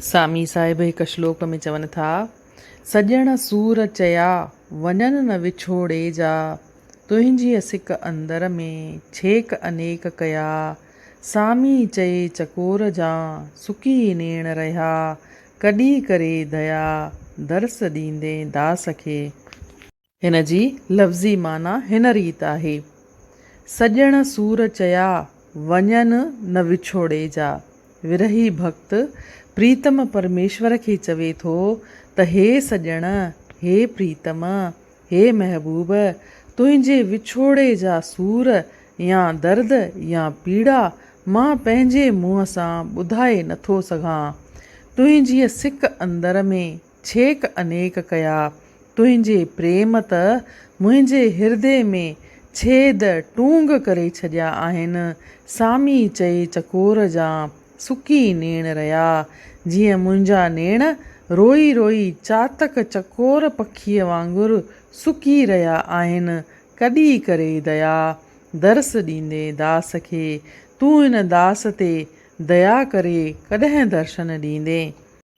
سامي صاحب هڪ شلوڪ ۾ چون ٿا، سڄڻ سور چيا، وڃن نه وڇوڙي جا، تنهنجيء سڪ اندر ۾، ڇيڪ انيڪ ڪيا، سامي چئي چڪور جان، سڪي نيڻ رهيا، ڪڏي ڪري ديا، درس ڏيندين داس کي. هن جي لفظي معنيٰ هن ريت آهي، سڄڻ سور چيا، وڃن نه وڇوڙي جا. ورهي ڀڳت پريتم پرميشور کي چوي ٿو ته هي سڄڻ، هي پريتم، هي محبوب، تنهنجي وڇوڙي جا سور يا درد يا پيڙا مان پنهنجي منهن سان ٻڌائي نٿو سگهان. تنهنجيء سڪ اندر ۾. ڇيڪ انيڪ ڪيا. تنهنجي پريم ته منهنجي هردي ۾ ڇيد ٽونگ ڪري ڇڏيا آهن. سامي چئي چڪور جا سڪي نيڻ رئا. جيئن منهنجا نيڻ روئي روئي چاتڪ چڪور پکيء وانگر سڪي رهيا آهن. ڪڏي ڪري ديا. درس ڏيندي داس کي. تون هن داس تي ديا ڪري ڪڏهن درشن ڏيندين.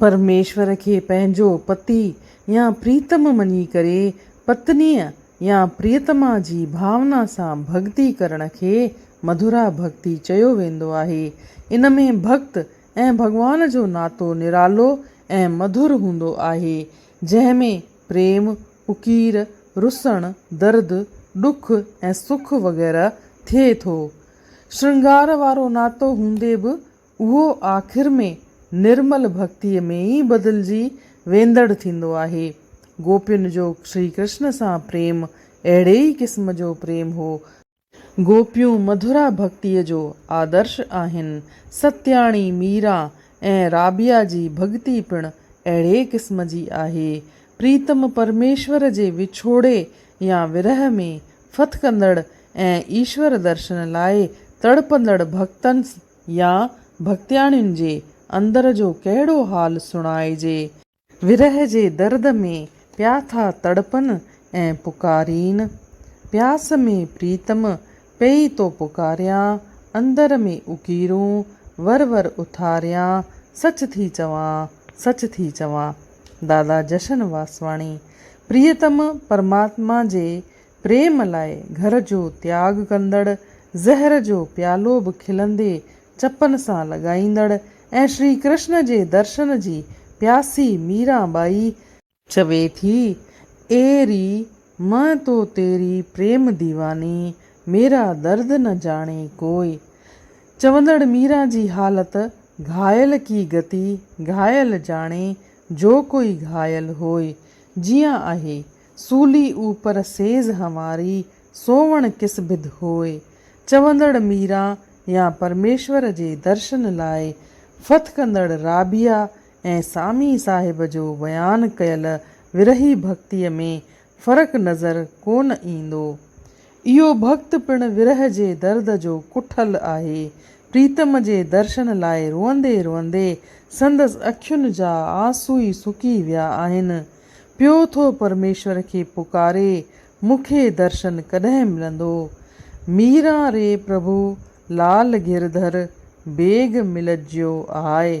پرميشور کي پنهنجو پتي يا پريتم مڃي ڪري پتنيء يا پريتما جي ڀاونا سان ڀڳتي ڪرڻ کي مڌورا ڀڳتي چيو ويندو آهي. ان ۾ ڀڳت ۽ ڀڳوان جو ناتو نرالو ۽ مڌر هوندو آهي، جنهن ۾ پريم، اڪير، رسڻ، درد، ڏک ۽ سک وغيره ٿئي ٿو. شرنگار وارو ناتو هوندي به اهو آخر ۾ نرمل ڀڪتيء ۾ ئي بدلجي ويندڙ ٿيندو آهي. گوپين جو شري ڪرشن سان پريم اهڙي ئي قسم جو پريم هو. گوپيون مڌورا ڀڪتيء جو آدرش آهن. ستياڻي، ميرا ۽ رابيا جي ڀڳتي پڻ اهڙي قسم جي آهي. پريتم پرميشور جي وڇوڙي يا ورهه ۾ ڦٿڪندڙ ۽ ايشور درشن لاء تڙپندڙ ڀڳتن يا ڀڳتياڻين جي اندر جو ڪهڙو حال سڻائجي. ورهه جي درد ۾ پيا ٿا تڙپن ۽ پڪارين. پياس ۾ پريتم پئي تو پڪاريان، اندر ۾ اڪيرون ور ور اٿاريان، سچ ٿي چوان، سچ ٿي چوان. دادا جشن واسواڻي. پريتم پرماتما جي پريم لاء گهر جو تياڳ ڪندڙ، زهر جو پيالو به کلندي چپن سان لڳائيندڙ ۽ شري ڪرشن جي درشن جي پياسي ميرا ٻائي، چوي ٿي، اي ري، مئن تو تيري پريم ديواني، ميرا درد نه جاڻي ڪوئي. چوندڙ ميرا جي حالت گهايل ڪي گتي گهايل جاڻي، جو ڪوئي گهايل هوئي. جيئن آهي. سولي اوپر سيز هنواري، سووڻ ڪس بڌ هوئي. چوندڙ ميرا يا پرميشور جي درشن لاء فٿ ڪندڙ رابعه ۽ سامي صاحب جو بيان ڪيل ورهيه ڀڳتيء ۾ فرق نظر ڪونه ايندو. اهو ڀڳت پڻ ورهه جي درد جو ڪٺل آهي. پريتم جي درشن لاء روئندي روئندي سندس اکين جا آنسوئي سڪي ويا آهن. پيو ٿو پرميشور کي پڪاري مون کي درشن ڪڏهن ملندو. ميران ري پرڀو لال گرڌر بيگ ملجيو آهي.